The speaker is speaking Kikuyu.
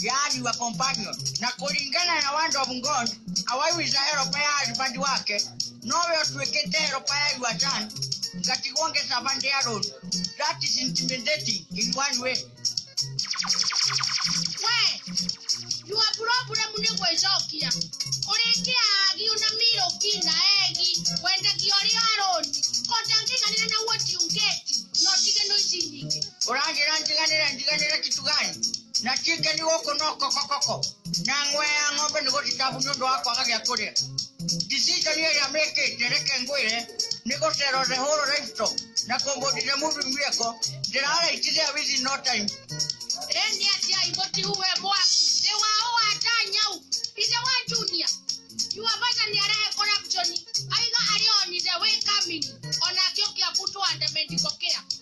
yaani wa companion na kũringana na word of god awaiwisa heropa ya husband wake nowe ũtuĩkĩte heropa ya your son ngatigwo ngĩcabande ya road that is intimidating in one way we yua puroburamu nĩ gwĩcokia ũrĩkia agiu na miroki na egi wendekia ũrĩ aroni kotangĩganĩra na woti ungeti no tigano ici nyingĩ ũranjĩra njiganĩre njiganĩre kitu gani na kike nĩ gũkũ no kokokoko na ng'we ya ng'ombe nĩ gũthikabu nĩ ũndũ wa kwaga gĩa kũrĩa decision ĩrĩa mekĩte reke ngwĩre nĩ gũcero the whole livestock na kũmbũndire mũbi mĩeko ndĩraraitithia within no time Eni atia imoti uwe mwa. Ni wa uwa tanyau. Ise wa junior. Yuwa bata ni arehe corruption. Aiga arioni the way coming. Ona kyo kia kutu andamendiko kia.